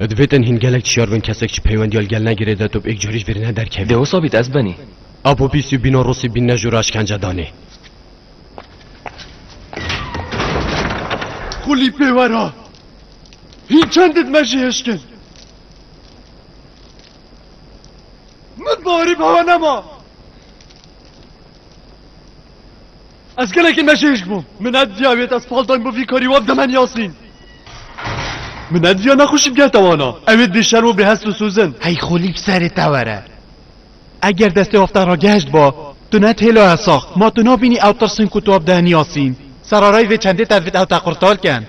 Divê tenhîn gelek çiyar bin kesek çi peywendiya li gel negire de tu bi êk carî ji vêrî nederkevî. Dê wisa bît ez benî. Apo bîst û bîna rosî bîn ne jû re eşkence danê. Xulî pê wera. Hîn çend di me jî hişkin. Min barî bi hewa nema. Ez gelekî mecêj bûm. Min nediyawiyê ez pal dayim bo vî karî wab demen Yasîn. Min nediya nexweşî bige te wana. Ew ê bêşerm û bêhest û sozin. Hey xolî bi serê te were. Eger destê wab te re geşt ba, tu ne têlo hesax. Ma tu nabînî ew tirsin ku tu wab dehin Yasîn. Serarayî vê çendê te divit ew te qurtar ken.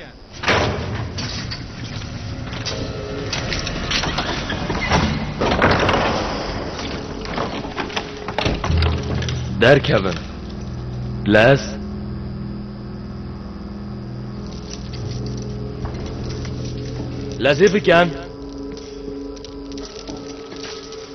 Derkevin. Les. Lezê bikin.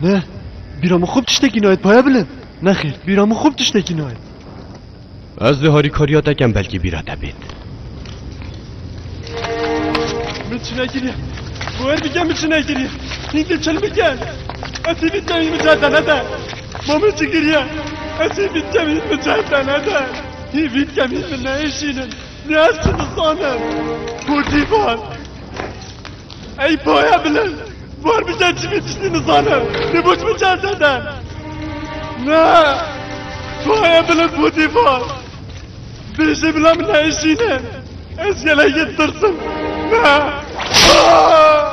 Ne, bîra min xwe bi tiştekî nayê paye bilind. Nexêr, bîra min xwe bi tiştekî nayê. Ez dê harîkariya te kem belkî bîra te bêt. Min çi nekiriye. Boyer bike min çi nekiriye. Hîn dê çil bike. Ez hîn bît kevîn min certe nede. Ma min çi kiriye. Ez hîn bît kevîn min certe nede. Hîn bît kevîn min neêşînin. Ne ez çi dizanim. Hûtî var. Ey paya bilind! Var biçe çi bî tiştî nizanim. Lê boş min çend sede. Ne! Paya bilind bû dîvar. Bêjê bila min neişîne. Ez gelek yê tirsim. Ne! Ah!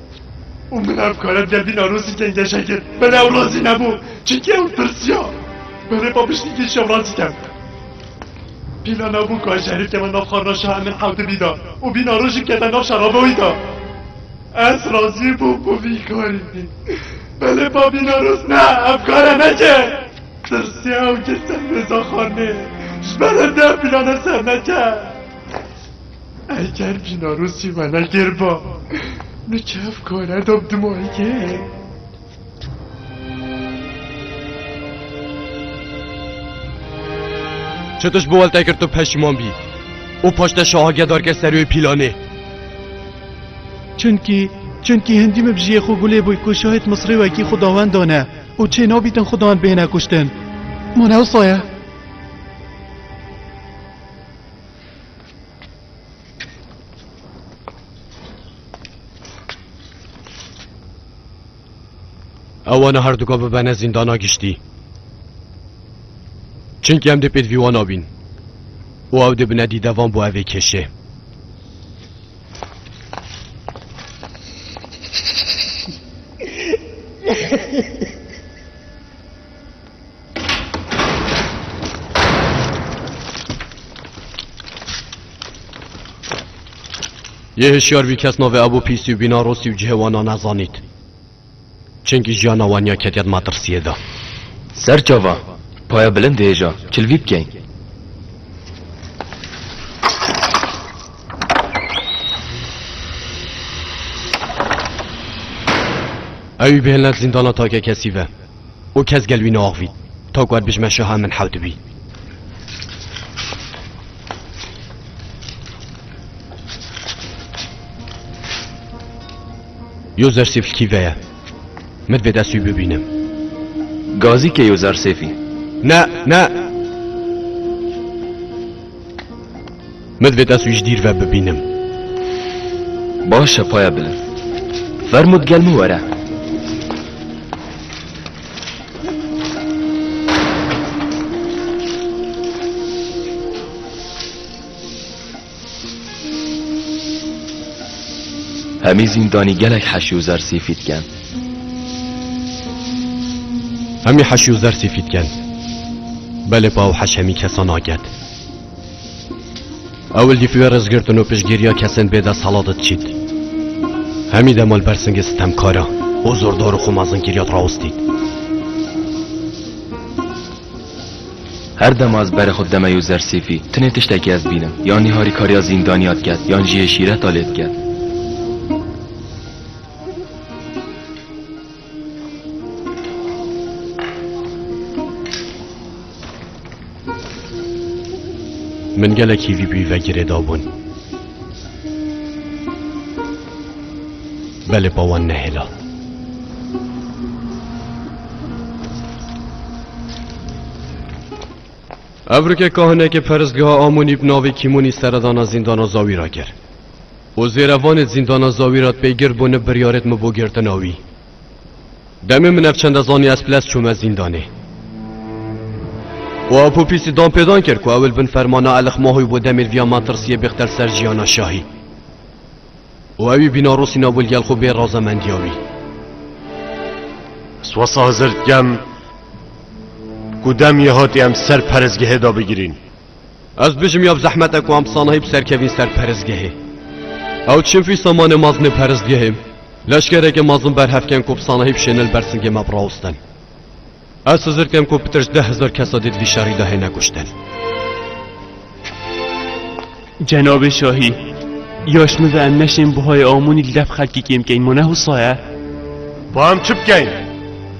û min ev kare derdî Newrozî têngêşe kir. Bi Newrozî nebû çimkî ew tirsiya berê xwe piştî kir Şewrazî ket. Pîla nabû ku ez şerîf keve nav xwarina şaha min hewtibî de û vîna rojî kete nav şerabe wî de. Ez razî bûm ku vî karî bî. Belê pa bî Newroz ne ev kare neke. Tirsiya ew kir ser mêza xwarinê. Ji ber hinde pîlane serneket. Ey ger bîna rûsî me ne gêr ba. Min ke ev kare da bi dimayîgê. Çi tişt bi welte kir tu peşîman bî û paş te şahagîya darkir ser wê pîlanê. Çunkî çunkî hindî min bi jiyê xwe gulê bûy ku şahid Misrî wekî xudawendan e û çê nabîtin xudan bihêne kuştin. Ma ne wisa ye. Ewana her duka bibene zîndana giştî. Çimkî em dê pêdvîwan abîn û ew dê bine dîdevan bo evê kêşê. Yê hişyar vî kes navê ev û pîsî û bînarosî û cihê wan a nezanît. Çimkî jiyana wan ya ketiya di matirsiyê de. Ser çava, paya bilind hêja, kilvî bikeyn. Ewî bihêlne zîndana takekesî ve. û kes gel wî neaxivît. Tok wer bijme şaha em min hew dibî. Yo zersêfî kî ve ye? Min divê dest wî bibînim. Gazî ke yo zersêfî. Ne, ne! Min divêt ez wî ji dîr ve bibînim. Baş e paya bilind. Fermo digel min were. Hemî zîndanî gelek heşî û zer sîfî diken. Hemî heşî û zer sîfî diken. Belê pa û heş hemî kesa naket. Ewil dîfûya rêzgirtin û piştgîriya kesên bê desthilat diçît. Hemî de malpersingê sitemkaran û zordar û xwe mezinkirîya dirawistît. Her dema ez berê xwe dideme yo zersîfî, tinê tiştekî ez dibînim, yanî harîkariya zîndanîya diket, yan jî yê şîreta lê diket. Min gelekî vî bî vegirê dabûn. Belê pa wan nehêla. Evrikê kahinekê peristgeha Amonî bi navê Kîmonî seredana zîndana Zawî ra kir. Û zêre vanê zîndana zawî ra pê girt bo ne biryarêt mi bo girtina wî. Demê min ev çende zanî ez piles çûme zîndanê. Û Apo Pîsî dan pê dan kir ku ewil bin fermana Elix Mahoy bo demêl vîya metirsîyê bixtel ser jîyana şahî. Û ewî bîna rûsîna wil gel xwe bê razemendîya wî. Swasa Hizir dkem ku demî hatî em ser perêzgehê da bigirîn. Ez bijim ya bi zehmete ku em sanahî bi serkevîn ser perizgehê. Ew çinfî samanê mazinê perizgehê leşkereke mazin berhevken ku bi sanahî bişêne li ber singê me birawustin. Ez hizir kem ku pitir ji deh hezar kesa dê di vî şerî de hêne kuştin. Cenabê şahî, ya ji min ve em neşên buhayê Amonî li dev xelkê kêm bikeyn ma ne husa ye? Ba em çi bikeyn?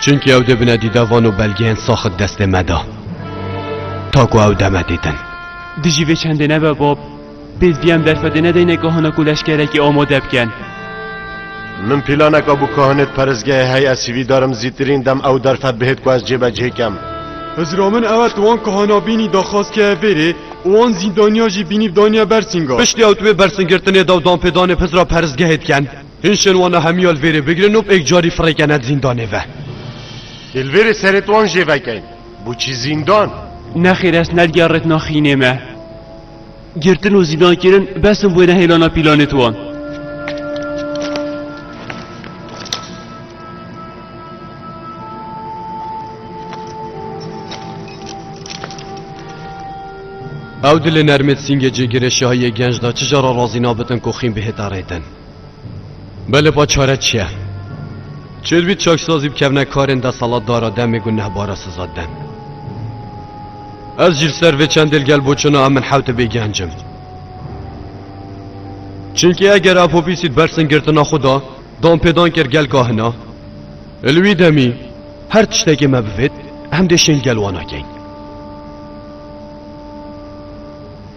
Çunki ew dê bine dîda van û belgeyên saxit destê me da. Ta ku ew deme dîtin. Dijî vê çendê nebe bab, PSBM derfetê nedeyne kahana ku leşkerekî amade bikin. Min pîlaneka bû kahanê di perestgehê heye sîvî darim zîtirîn dem ew derfet bihêt ku ez cêbecihê kem. Hizra min ew e tu wan kahana bînî daxwaz keye vêrê û wan zîndaniya jî bînî daniye bersînga. Piştî ew di wê bersîngirtinê de û danpêdanê bi Hizra perestgehê dikin. Hin şenwana hemiya li vêrê bigirin û pêk carî firêkene di zîndanê ve. Dê li vêrê serê wan jê vekein. Boçî zîndan? Nexêr ez nergiya retina xînê me. Girtin û zîndankirin bes in bo nehêlana pîlanê di wan. Ew dilê nermê di sîngê cêgirê şahiyê genc de çija re razî nabitin ku xîn bihêta rê din? Belê ba çare çi ye? Çi dibît çaksazî bikevne karên desalatdara demê ku nehbara siza dem. Ez jî li ser vê çendê li gel boçuna em min hewte bê genc im. Çunkî eger Apopîsî di ber singirtina xwe de danpêdan kir gel kahina, li wî demî her tiştekê me bivêt em dê şên gel wana kein.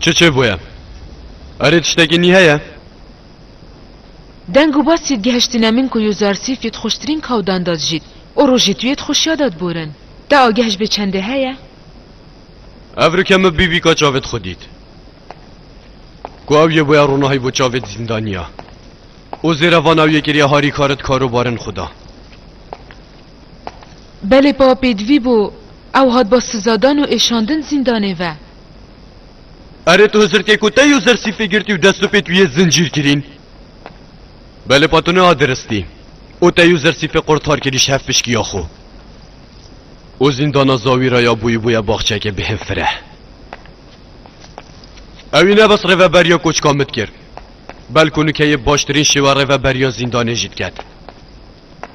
Çi çêbûye? Erê tiştekî nî heye? Deng û bas yê gihiştîne min ku Yozarsîf yê dixweştirîn kawdan da dijît û rojê tu yê dixweşiya da diborin. Te ageh ji bê çendê heye? Ev rike min bî bîka çavê dixwe dît. Ku ew yê bûye ronahî bo çavê di zîndaniya. Û zêre van ew yê kiriye harî kar di karobarin xwe da. Belê pa pêdivî bû. Ew hat ba sizadan û êşandin zîndanê ve. Erê tu hizirkê ku te yo zer sîfê girtî û dest û pê tu yê zincîr kirîn. Belê pa tu niha diristî û te yo zer sîfê qurtar kirî ji hev pişkiya xwe. Û zîndana zawî re ya bûyî bûye baxçeke bi hin fireh. Ewî ne bes rêveberiya koçka min dikir, belkû nûkeyê baştirîn şêwe rêveberiya zîndanê jî diket.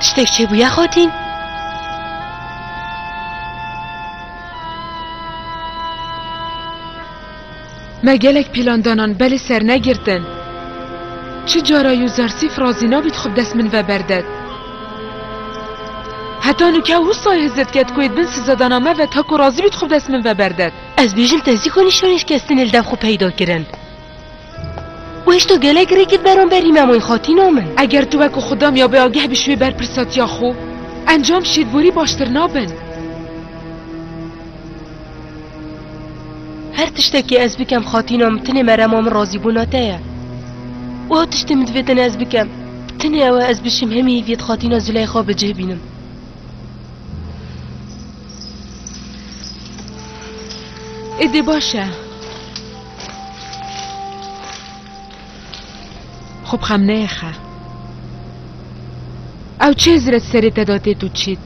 Tiştek çê bûye xotîn? Me gelek pîlan danan belê sernegirtin. Çi cara yû zarsîf razî nabît xwe bi dest min ve berdet. Heta nûke wusayê hizet ket ku êd bin sizedana me ve ta ku razî bît xwe bi dest min ve berdet. Ez bêjim te zî konî şonê şikestinê li dev xwe peyda kirin. Weş to gelek rêkit beramberî me moy xatîna min. Eger tu wek û xwe damiya bi ageh bî ji wê berpirsatiya xwe, encam şêdborî baştir nabin. Her tiştekî ez bikem xatîna min tinê merema min razîbûna te ye. Wiha tiştê min divê tenê ez bikem. Tinê ew e ez bişim hemî hîviyê di xatîna Zileyxa bi cih bînim. Êdî baş e. Xwe bi xem neyê xe. Ew çê ziret serê te da têt û çît.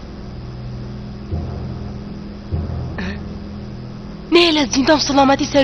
Nêlez, zîndan bi selametî ser û